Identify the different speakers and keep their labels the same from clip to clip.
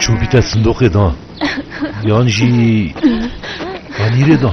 Speaker 1: Çûbî te sindoqê da yan jî anîrê da?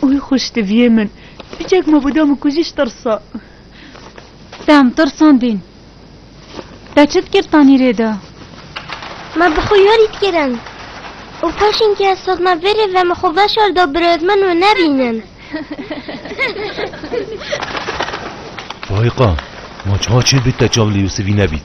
Speaker 1: Wî xwişk diviyê min. Çîçek ma bûda min kujî ji tirsa. Te em tirsandîn. Te çi dikir tanîrê de? Me bi xwe yarî dikirin. Û paşên ke ez hatime vê rê ve me xwe veşar da birêvên min wê nebînin. Faîqa, ma çawa çêbî te çav li Yûsivî nebît?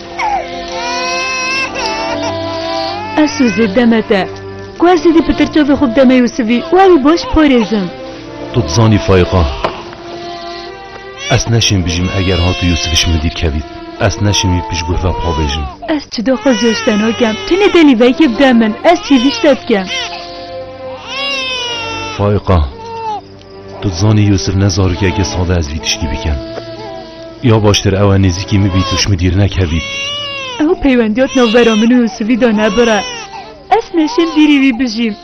Speaker 1: Esûzê demete. Ku ez êdî pitir çavê xwe bideme Yûsivî û ew ê baş parêzim. Tu dizanî Faîqa. Ez neşên bijîm eger hat û Yûsif ji min dîr kevît. Ez neşên wî pişt guh ve pavêjim. Ez çida xwe ziya ji te nakem. Tu ne delî vekê bide min. Ez hêvî ji te dikim. Faîqa. Tu dizanî Yûsif ne zarokeke sad e ez vî tiştî bikim. Ya baştir ew e nêzîkî min bî tu ji min dîr nekevî. Ew peywendiya di navbera min û Yûsifî de nebire. Ez neşêm dîrî wî bijîm.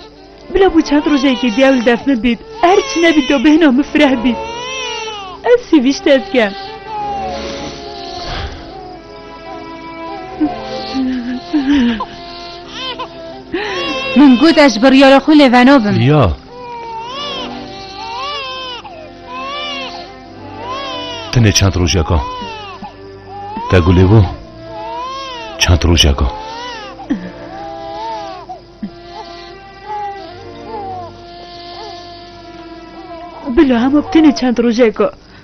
Speaker 1: Bila bû çend rojekî dî ew li def min bît. Her çi nebît do bêhna min fireh bît. Ez sivîşt ez kem. Min got ez ji biryara xwe lêveno bim. Ya. Tenê çend rojeka. Te gulê bû. Çend rojeka. Bila hema tenê çend rojeka.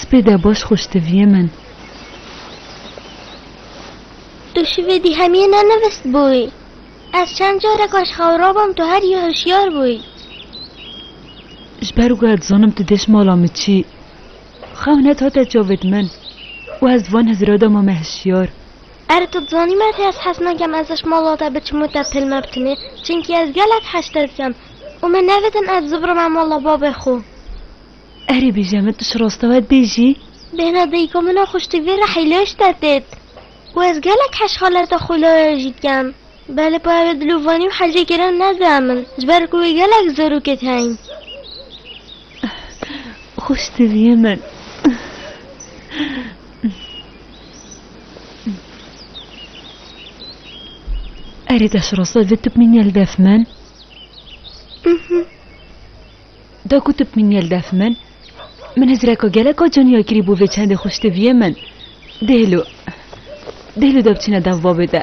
Speaker 1: Spê de baş xweş diviyê min. Tu şivê dî hemiyê nenivist bûyî. Ez çend carek aşxewra bûm tu her yê hişyar bûyî. Ji ber wê ez dizanim tu dêş mala min çî. Xewn het hate çavê di min û ez di van hizira de mame hişyar. Erê tu dizanî me tê ez hez nakem ez ji mala te biçim û te pil me bitinê çimkî ez gelek heştir dikem û min nevidin ez zibirime mala babê xwe. Erê bêje min tu ji rastewet bêjî. Bêhna dayika min a xuştî vê re heylê ji te têt û ez gelek heşxaleta xwîlaya jî dikem belê pa ew ê dilûvanî û hecê kirin nede min ji ber ku wê gelek zarokê tîheyîn. Xuştî vîyê min. Erê deş rose vê tip min yel def min. Da ku tip min yel def min. Min hizreka geleka caniya kirî bû vê çendê xwe ştiviyê min. Dêhlo. Dêhlo de biçîne dev babê de.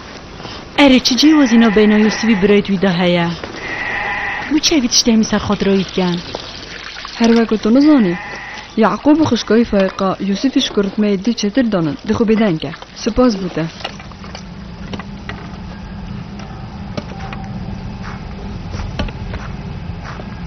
Speaker 1: Erê çi cêwazîna beyna Yûsivî birayît wî de heye? Bû çi evî tiştê hemî ser xatira wî diken? Her weke tu nizanî, Yaqûb û xişka wî Faîqa Yûsivî ji ku ritmeyê dî çêtir danin, di xwe bêdeng e. Sipas bû te.